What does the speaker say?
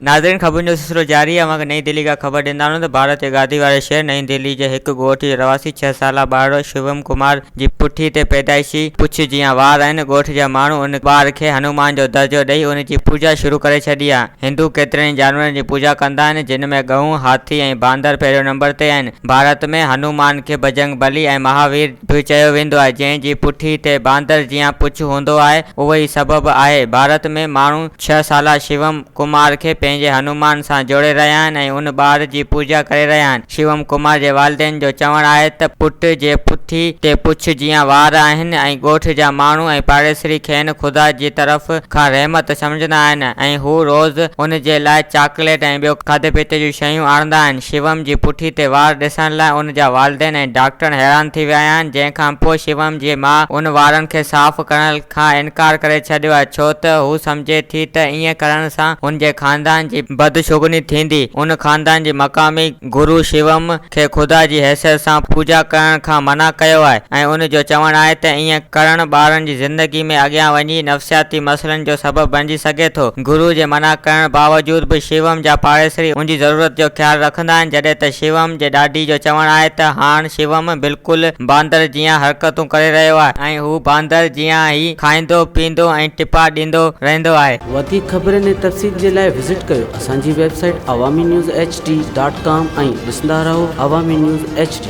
ناظرين خبرن جو سلسلو جاري آهي اوهان کي نئين دهلي کان خبر ڏيندا آهيون ته ڀارت جي گادي واري شهر نئين دهلي جي هڪ ڳوٺ جي رهواسي ڇهه سالا ٻارڙو شوم ڪمار جي پٺي تي پيدائشي پڇ جيان وار آهن ڳوٺ جا ماڻهو ان ٻار کي هنومان جو درجو ڏئي ان جي پوڄا شروع ڪري ڇڏي آهي هندو ڪيترن ئي جانورن جي پوڄا ڪندا آهن جن ۾ ڳئون هاٿي ۽ باندر پهريون نمبر تي آهن ڀارت ۾ هنومان کي بجرنگ بلي ۽ مهاوير به چيو ويندو آهي، جنهن جي پٺي تي باندر جيان پڇ هوندو آهي، اهو ئي سبب آهي. ڀارت ۾ ماڻهو ڇهه سالا شيوم ڪمار کي پنهنجي هنومان سان جوڙي رهيا آهن ۽ ان ٻار جي پوڄا ڪري رهيا آهن. شيوم ڪمار جي والدين جو چوڻ آهي ته پٽ جي پٺي تي پڇ جيان وار آهن ۽ ڳوٺ جا ماڻهو ۽ پاڙيسري کين خدا جي طرف کان رحمت سمجهندا آهن ۽ هو روز ان جي لاء چاڪليٽ ۽ ٻيو کاڌي پيتي جون شيون آڻندا آهن. شيوم جي پٺي تي وار ڏسڻ لاء ان جا والدين ۽ ڊاڪٽر حيران ٿي ويا آهن، جنهن کانپوء شيوم جي ماء ان وارن کي صاف ڪرڻ کان انڪار ڪري ڇڏيو آهي، ڇو ته هو سمجهي ٿي ته ائين ڪرڻ سان هن جي خاندان جي بدشگوني ٿيندي، ان خاندان جي مقامي گرو شيوم کي خدا جي حيثيت سان پوڄا ڪرڻ کان منع ڪيو آهي ۽ ان جو چوڻ آهي ته ائين ڪرڻ ٻارن جي زندگي ۾ اڳيان وڃي نفسياتي مسئلن جو سبب بڻجي سگهي ٿو، گرو جي منع ڪرڻ باوجود به شيوم جا پاڙيسري ان جي ضرورت جو خيال رکندا آهن جڏهن ته شيوم جي ڏاڏي جو چوڻ آهي ته هاڻ شيوم بلڪل باندر جيان حرڪتون ڪري رهيو آهي ۽ هو باندر جيان ئي کائيندو پيئندو ۽ ٽپا ڏيندو رهندو آهي. وڌيڪ خبرن ۽ تفصيل جي لاء وزٽ ڪيو اسان جي website Awami news H D dot com ۽ ڏسندا رهو عوامي نيوز ايڇ ڊي.